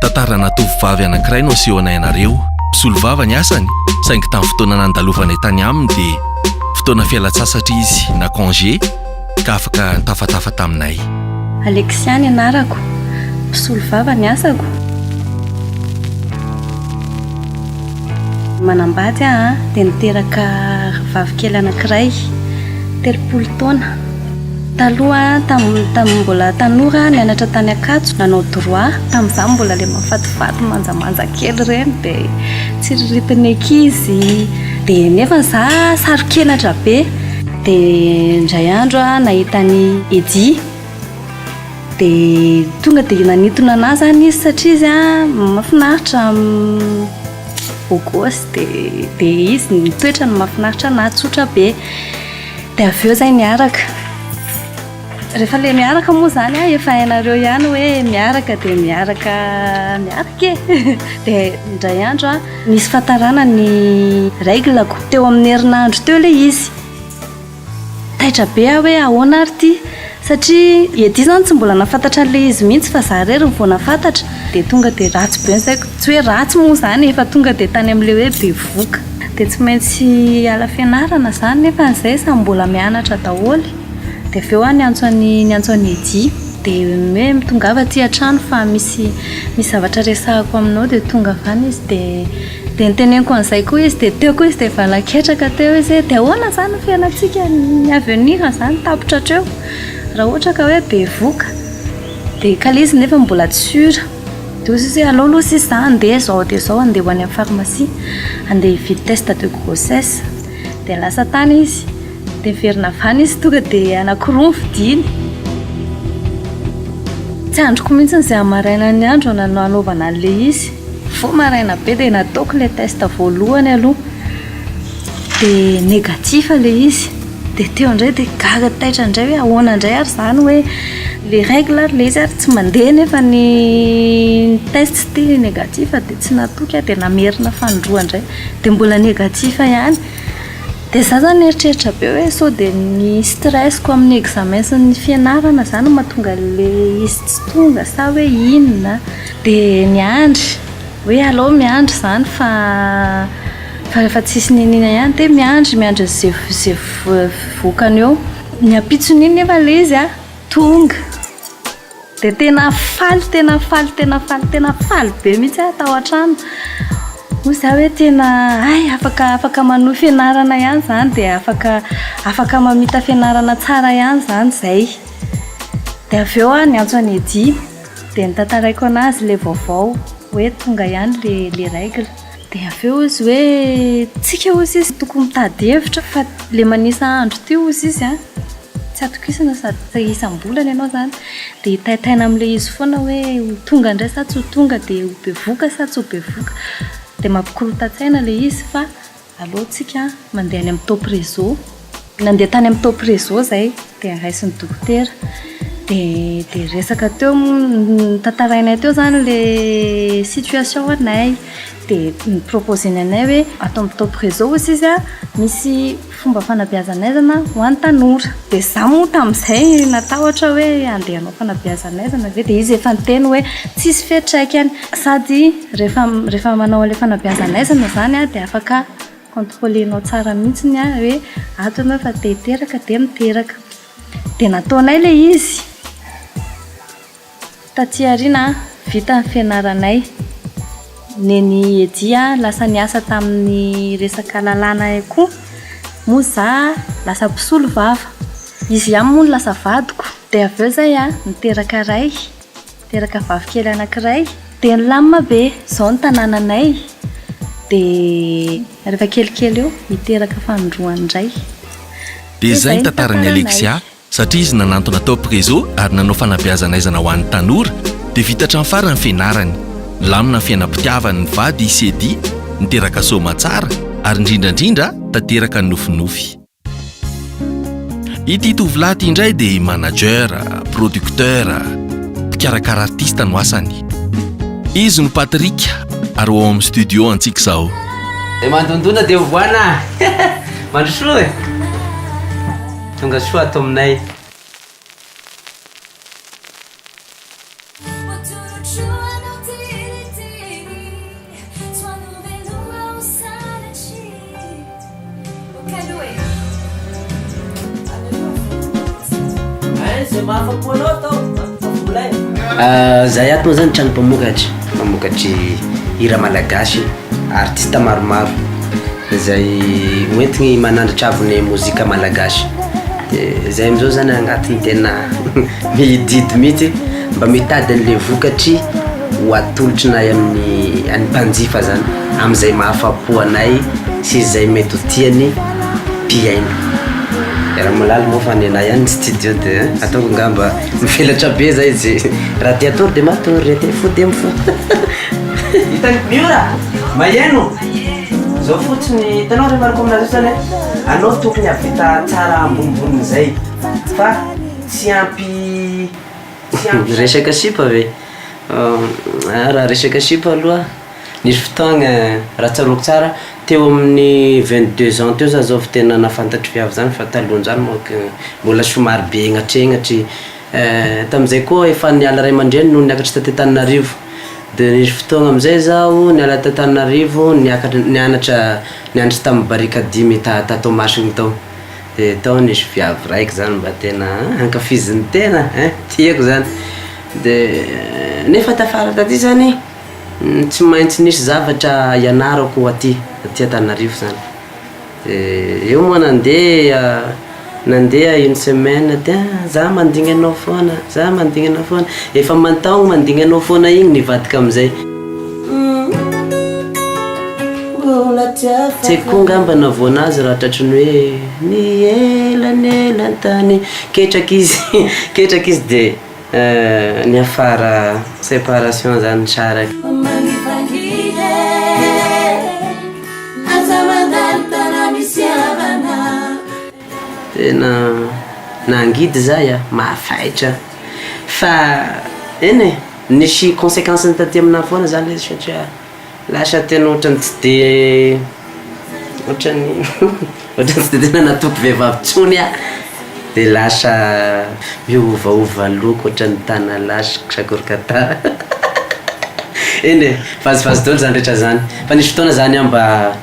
Tantarana tovovavy anankiray no asehonay anareo. Mpisolovava ny asany, saingy tamin'ny fotoana nandalovanay tany aminy dia fotoana fialan-tsasatra izy na congé ka afaka nitafatafa taminay. Alexia ny anarako. Mpisolovava ny asako. Manambady aho dia niteraka rahavavy kely anankiray, telopolo taona. Taloha tamin'ny tamin'ny mbola tanora nianatra tany Ankatso nanao droit. Tamin'izaho mbola ilay mahafatifaty manjamanja kely ireny dia tsiriritin'ny ankizy dia nefa izaho saro-kenatra be. Dia indray andro aho nahita an'i Eddy dia tonga dia nanintona an'ahy izany izy satria izy mahafinaritra beau gosse dia dia izy ny toetrany mahafinaritra an'ahy tsotra be. Dia avy eo izay miaraka. Rehefa ilay miaraka moa izany an, efa hainareo ihany hoe miaraka dia miaraka miaraka e. Dia indray andro an, nisy fahatarana ny règle-ko. Teo amin'ny herinandro teo ilay izy. Taitra be aho hoe ahoana ary ity? Satria i Eddy izany tsy mbola nahafantatra an'ilay izy mihitsy fa izaho irery no vao nahafantatra dia tonga dia ratsy be ny saiko. Tsy hoe ratsy moa izany e fa tonga dia tany amin'ilay hoe bevoka. Dia tsy maintsy hiala fianarana izany nefa izay samy mbola mianatra daholo. Dia avy eo aho niantso an'i niantso an'i Eddy dia hoe mitongava aty an-trano fa misy misy zavatra resahako aminao dia tonga avy any izy dia Dia noteneniko an'izay koa izy, dia teo koa izy dia efa laketraka teo izy hoe dia ahoana izany ny fiainantsika ny avenir izany tapitra hatreo, raha ohatra ka hoe bevoka, dia kala izy nefa mbola tsy sûr, dia hoy izy hoe aleo aloha sisa izaho handeha izao dia izao handeha ho any amin'ny pharmacie handeha hividy test de grossesse, dia lasa tany izy. Dia niverina avy any izy tonga dia anankiroa ny vidiany. Tsy andriko mihitsy izay amin'ny marainan'ny andro nanaovana an'ilay izy. Mifoha maraina be dia nataoko ilay test voalohany aloha. Dia négatif ilay izy. Dia teo indray dia gaga taitra indray hoe ahoana indray ary izany hoe ilay règle ary ilay izy ary tsy mandeha nefa ny test ity négatif dia tsy natoky aho dia namerina fanindroany indray. Dia mbola négatif ihany. Dia za zany mieritreritra be hoe sao dia ny stress-ko amin'ny examen sy ny fianarana zany no mahatonga ilay izy tsy tonga sa hoe inona dia miandry hoe aleo miandry zany fa fa efa tsisy niniana ihany dia miandry miandry izay izay vokany eo ny ampitson'iny nefa ilay izy an tonga Dia tena faly tena faly tena faly tena faly be mihitsy aho tao an-trano. Hoy izaho hoe tena hay afaka afaka manohy fianarana ihany izany dia afaka afaka mamita fianarana tsara ihany izany izay. Dia avy eo aho niantso an'i Eddy dia notantaraiko anazy ilay vaovao hoe tonga ihany ilay ilay règle. Dia avy eo izy hoe tsika hozy izy tokony mitady hevitra fa le manisa andro ty hozy izy a tsy atokisana sady tsy isam-bolana ianao izany dia hitaitaina amin'ilay izy foana hoe ho tonga indray sa tsy ho tonga dia ho bevoka sa tsy ho bevoka dia mampikorontan-tsaina ilay izy fa aleontsika mandeha any amin'ny top réseau. Nandeha tany amin'ny top réseau izay dia raisin'ny dokotera dia resaka teo notantarainay teo izany ilay situation anay dia ni-proposer-ny anay hoe ato amin'ny top réseau ozy izy an, misy fomba fanabeazan'aizana ho an'ny tanora dia izaho moa tamin'izay natahotra hoe handeha hanao fanabeazan'aizana ve dia izy efa niteny hoe tsisy fiantraikany sady rehefa rehefa manao an'ilay fanabeazan'aizana izany an dia afaka Contrôler-nao tsara mihitsy ny ahy hoe ato ianao fa te hiteraka dia miteraka. Dia nataonay ilay izy. Taty aoriana vita ny fianaranay. Nen'i Eddy lasa niasa tamin'ny resaka lalàna koa. Moa izaho lasa mpisolo vava. Izy ihany moa no lasa vadiko. Dia avy eo izay niteraka iray. Teraka vavikely anankiray. Dia nilamina be izao ny tanànanay, dia rehefa kelikely eo niteraka fanindroany indray. Dia izay ny tantaran'i Alexia, satria izy nanantona tao Prezo ary nanao fanabeazan'aizana ho an'ny tanora, dia vita hatramin'ny farany ny fianarany. Nilamina ny fiainam-pitiavany ny vady i Sedi, niteraka soamatsara, ary indrindra indrindra tanteraka ny nofinofy. Ity tovolahy ity indray dia manager, producteur, mpikarakara artista no asany. Izy no Patrick ary ao amin'ny studio antsika izao. Dia mandondona dia ovoana Mandrosoa e Tonga soa ato aminay. Zahay ato moa zany trano mpamokatra, mamokatry hira malagasy, artiste maromaro. Izay hoentiny manandratra avo ny mozika malagasy. Dia izay amin'izao izany angatiny tena mihidihidy mihitsy mba mitady an'ilay vokatry ho atolotry nay amin'ny an'ny mpanjifa izany amin'izay mahafa-po anay sy izay mety ho tian'ny mpihaino. Raha malaly moa fa ny anay ihany ny studio dia ataoko angamba mivelatra be izay izay raha te hatory dia matory, raha te hifoha dia mifoha. Hitan'i Miora, maheno. Zao fotsiny, hitanao re Marco amin'azy io zany a, anao tokony hahavita tsara ambonibonin'izay fa tsy ampy tsy ampy Resaka sipa ve? Raha resaka sipa aloha, nisy fotoagna raha tsaroako tsara teo amin'ny vingt deux ans teo zah zao vao tena nahafantatry viavy zany fa talohan'izany manko mbola somary be hegnatregnatry, Eh, tamin'izay koa efa niala ray aman-dreniny no niakatra taty Antananarivo. Dia nisy fotoagna amin'izay izaho niala taty Antananarivo niakatra nianatra nianatra tamin'ny barika dimy ta ta Toamasina tao. Dia tao nisy viavy raiky izany mba tena an, ankafizin'ny tena eh, tiako izany. Dia nefa tafara taty izany tsy maintsy nisy zavatra ianarako aty aty Antananarivo izany. Eh eo moa nandeha nandeha une semaine dia ah za mandigny anao foana za mandigny anao foana efa aman-taogno mandigny anao foana igny nivadika am'zay mbola tiako fa tsy haiko koa ngamba nahavoana azy raha tratry ny hoe ny elanelan-tany ketraky izy ketraky izy dia Niafara separation zany nisaraka. Mangitangita eh Aza mandalo tana misy havana eh Tena nangidy za ya, mafaitra Fa eny e, nisy consequence-ny taty aminahy foana zany izy satria. Lasa tena ohatran'ny tsy dia ohatran'ny ohatran'ny tsy dia tena natoky vehivavy intsony aho dia lasa miovaova loko ohatran'ny tanalahy sy sakoroka eny e, vazivazy daholo izany rehetra izany, fa nisy fotoana zany aho mba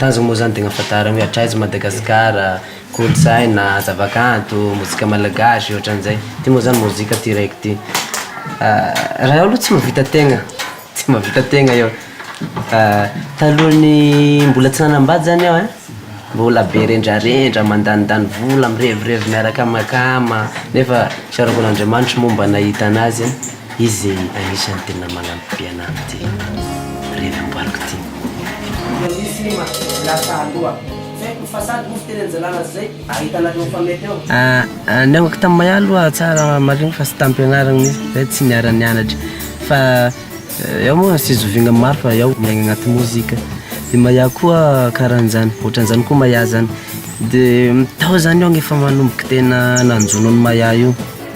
Tanjona moa izany tegna fantarina hoe hatraiza i Madagasikara, kolontsaina, zavakanto, mozika malagasy ohatran'izay. Ty moa zany mozika ty raiky ty. Raha eo aloha tsy mahavita tegna, tsy mahavita tegna eo. Talohan'ny mbola tsy nanambady zany aho ein, mbola be rendrarendra, mandanindany vola, mirevirevy miaraka amakama, nefa tsaroako an'Andriamanitra moa mba nahita anazy. Izy anisany tena manampy be anah ty revy amboariko ty. Dia misy film lasa aloha. Tsy haiko fa sa dosy teny anjalana zay ahitana anao fa mety eo. Ahh niangako tam maya aloha tsara marigny fa tsy tam pianaragna mintsy zay tsy niara nianatra fa eo moa tsy zovigna maro fa eo miaigna agnaty mozika de maya koa karanjany otranzany koa maya zany de tao zany aho efa manomboka tena nanjono an'i maya io.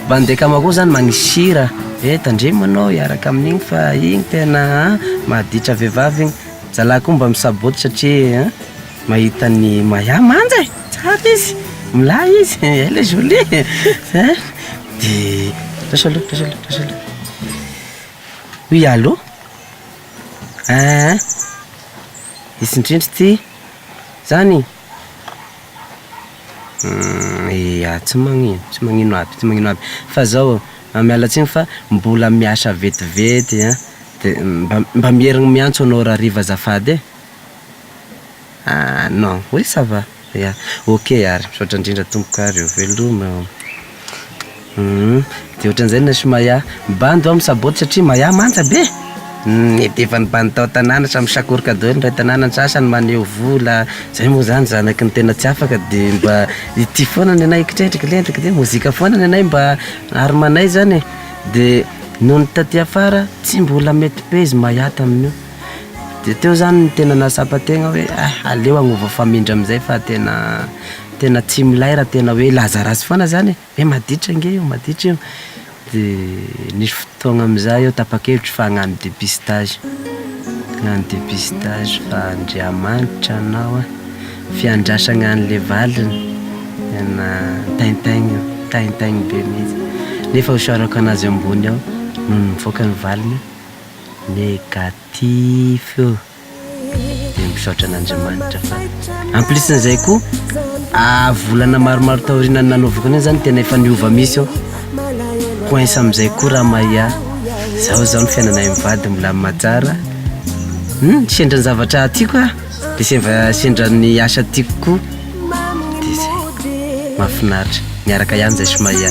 Bande kama koa zany magnisy sira eh tandremo anao hiaraka amin'igny fa igny tena an mahaditra vehivavy igny, zalahy koa mba misaboty satria an mahita ny Maya manja eh, tsara izy, milay izy, elle est jolie eh, zay de raiso aloha raiso aloha raiso aloha, oui allo, eeh izy indrindra ity zany. Ia, tsy magnino, tsy magnino aby, tsy magnino aby, fa zao miala tsiny fa mbola miasa vetivety an, de mba mba mierigny miantso anao rariva azafady e! Ah non, oui ça va, ya, ok ary, misaotra indrindra tompoko ary veloma. Humm, de ohatran'izay ny an'sy Maya. Mibandy ho'a misaboty satria Maya manja be! Humm, efa nibandy tao an-tanàna samy misakoroka daholo ny iray tanàna, ny sasany maneho vola, zay moa zany zanaky ny tena tsy afaka de mba ity foana ny anay kitree triklentry kite, mozika foana ny anay mba arimanay zany e! de nony taty afara tsy mbola mety be izy Maya tamin'io. de teo zany no tena nahatsapa tegna hoe ah aleo agnova famindra amizay fa tena tena tsy milay raha tena hoe laza ratsy foana zany e, hoe maditra ange io maditra io, de nisy fotoagna amizay aho tapa-kevitra fa hagnano dépistage, hagnano dépistage fa Andriamanitra anao a, fiandrasagna anle valiny tena tintin-gny tintin-gny be mihintsy, nefa isaorako anazy ambony ao nony nivoaka ny valiny. Negatif dia misaotra an'Andriamanitra fa en plus n'izay koa volana maromaro taoriana ny nanaovako an'iny zany tena efa niova mihintsy aho, coince amin'izay koa raha Maïa, zao zao ny fiainanay amin'ny vady milamina tsara, hum sendra ny zavatra tiako ah, dia seva sendra ny asa tiako koa, dia zay, mahafinaritra, miaraka ihany zay sy Maïa.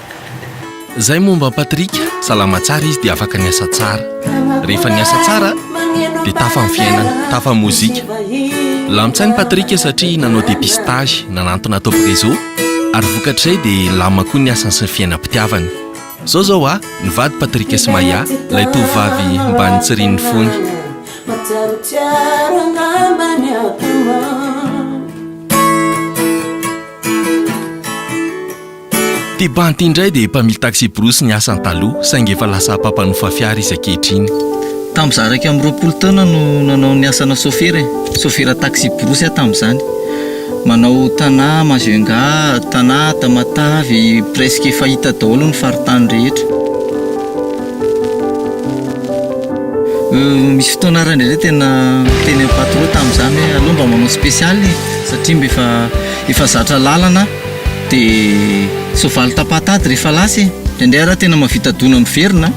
Izay momba an'i Patrick, salama tsara izy dia afaka niasa tsara. Rehefa niasa tsara dia tafa ny fiainana, tafa ny mozika. Lamin-tsain'i Patrick satria nanao dépistage nanantona atao Prezo ary vokatr'izay dia lamina koa ny asany sy ny fiainam-pitiavany. Izao izao a, nivady Patrick sy Maya, ilay tovovavy mba nitsirian'ny fony. Tebante indray dia mpamily taxi-brousse ny asany taloha saingy efa lasa mpampanofa fiara izy ankehitriny. Tamin'izaho iraika amby roapolo taona no nanao ny asana sôfera e. Sôfera taxi-brousse aho tamin'izany. Manao Tana, Majunga, Tana, Tamatave, presque efa hita daholo ny faritany rehetra. Misy fotoana ary indraindray tena niteny amin'ny patro tamin'izany hoe aleo mba manao spécial e, satria mba efa efa zatra lalana. De soavaly tapatady rehefa lasa e! Indraindray ara tena mahavita dona miverina an!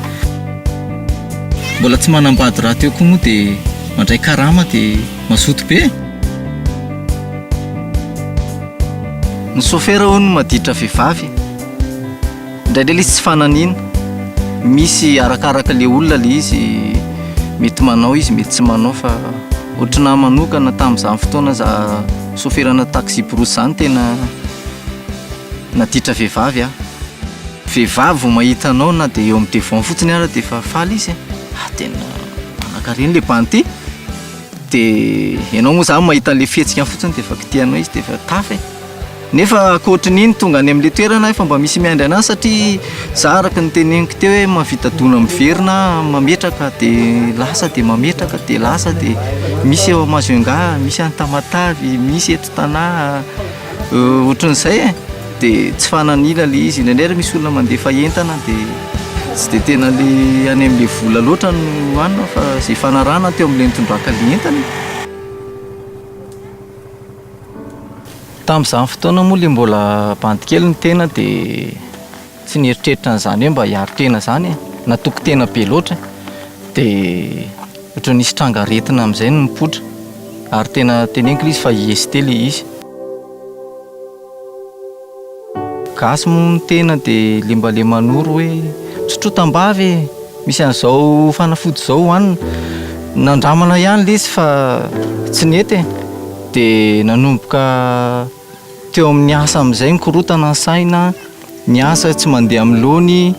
Mbola tsy manambady rahateo koa moa de mandray karama de mazoto be e! Ny sôfera hono maditra vehivavy e! Indraindray le izy tsy fananina, misy arakaraka le olona le izy, mety manao izy mety tsy manao fa ohatrin'ny ahy manokana tamin'izany fotoana za soferana taxi-brousse zany tena naditra vehivavy aho, vehivavy vao mahita anao na de eo amin'ny devant fotsiny ara de efa faly izy e, ah tena manankarena le banty, de ianao moa zany mahita an'le fihetsikany fotsiny de efa kitihanao izy de efa tafa e. Nefa ankoatry ny iny tonga any amin'ilay toerana aho efa mba misy miandry an'ahy satria za araka ny teneniko teo hoe mahavita dona miverina aho mametraka dia lasa dia mametraka dia lasa dia misy eo Majunga, misy any Tamatave, misy eto Tana ohatran'izay e! dia tsy fanan'ila ilay izy, indraindray ary misy olona mandefa entana dia tsy dia tena ilay any amin'ilay vola loatra no hanina fa izay fanarahana teo amin'ilay nitondràka ilay entana e! Tamin'izany fotoana moa le mbola bandy kely ny tena dia tsy nieritreritra an'izany hoe mba hiaro tena izany e, natoky tena be loatra dia ohatran'ny nisy tranga aretina amin'izay no nipoitra ary tena teneniko le izy fa i Esthie le izy. Gasy moa ny tena dia lembalemanoro hoe misotroa tambavy e! Misy an'izao fanafody izao hohanina. Nandramana ihany ilay izy fa tsy nety e! Dia nanomboka teo amin'ny asa amin'izay ny korontana ny saina, ny asa tsy mandeha amin'ny laoniny.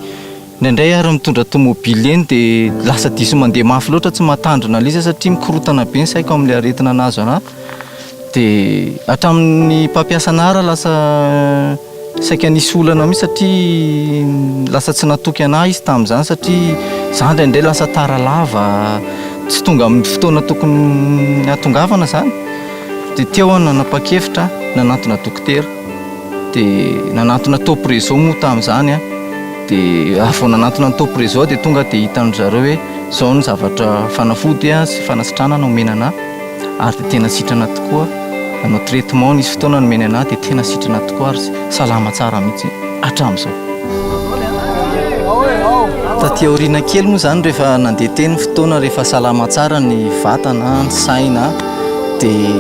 Indraindray ary mitondra tomobily eny dia lasa diso mandeha mafy loatra tsy mahatandrina an'ilay izy aho satria mikorontana be ny saiko amin'ilay aretina nahazo anah. Dia hatramin'ny mpampiasa anah ary lasa saika nisy olana mihitsy satria lasa tsy natoky anah izy tamin'izany satria zah indraindray lasa tara lava, tsy tonga amin'ny fotoana tokony hahatongavana zany. Dia teo aho nanapa-kevitra nanantona dokotera. dia nanantona top reseau moa tamin'izany an, dia ary vao nanantona ny top reseau aho dia tonga dia hitan'ny zareo hoe izao ny zavatra fanafody an sy fanasitranana omena anà ary dia tena sitrana tokoa nanao traitement nisy fotoana nomeny anà dia tena sitrana tokoa ary salama tsara mihitsy hatramin'izao. Taty aoriana kely moa izany rehefa nandeha teny ny fotoana rehefa salama tsara ny vatana an, ny saina an, dia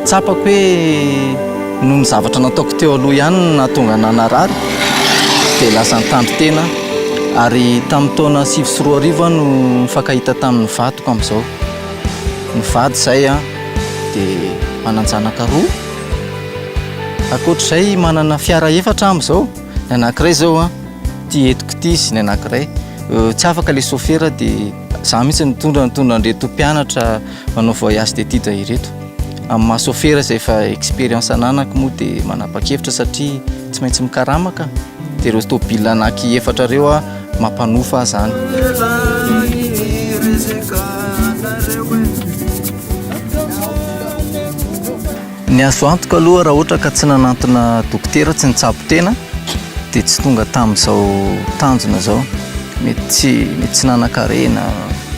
tsapako hoe Noho ny zavatra nataoko teo aloha ihany no nahatonga anà narary, dia lasa nitandro tena aho. Ary tamin'ny taona sivy sy roa arivo aho no nifankahita tamin'ny vadiko amin'izao. Nivady izahay dia manan-janaka roa. Ankoatra izay, manana fiara efatra aho amin'izao, ny anankiray izao ity entiko ity sy ny anankiray. Tsy afaka ilay sôfera dia izaho mihitsy no mitondra, nitondra an'ireto mpianatra manao voyage d'études ireto. Amin'ny maha sôfera izay efa expérience ananako moa dia manapa-kevitra satria tsy maintsy mikarama ka. Dia ireo tôbila anaky efatra ireo aho mampanofa izany. Ny azo antoka aloha raha ohatra ka tsy nanantona dokotera tsy nitsabo tena dia tsy tonga tamin'izao tanjona izao. Mety tsy mety tsy nanan-karena,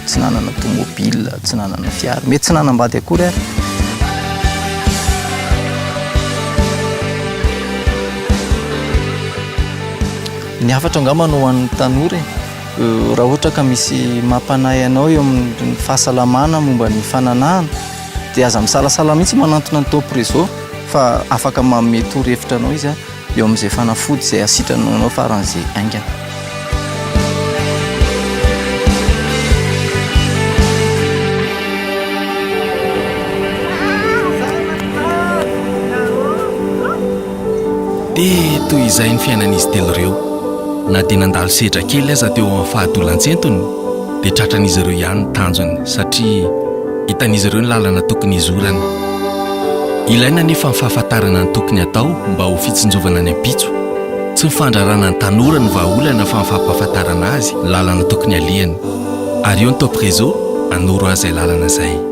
tsy nanana tômôbila, tsy nanana. Fiara. Mety tsy nanambady akory ary. Ny hafatra angamba no ho an'ny tanora e. Raha ohatra ka misy mampanahy anao eo amin'ny fahasalamana momba ny fananahana dia aza misalasala mihitsy manantona ny top réseau fa afaka manome torohevitra anao izy a. Eo amin'izay fanafody izay hasitranao anao faran'izay haingana. Dia toy izay ny fiainan'izy telo ireo. Na dia nandalo sedra kely aza teo amin'ny fahadolan-tsentony, dia tratran'izy ireo ihany ny tanjony satria hitan'izy ireo ny lalana tokony hizorany. Ilaina anefa ny fahafantarana ny tokony atao mba ho fitsinjovana ny ampitso. Tsy ny fandrarana ny tanora no vahaolana fa ny fampahafantarana azy ny lalana tokony alehany. Ary eo ny Top Réseau hanoro azy izay lalana izay.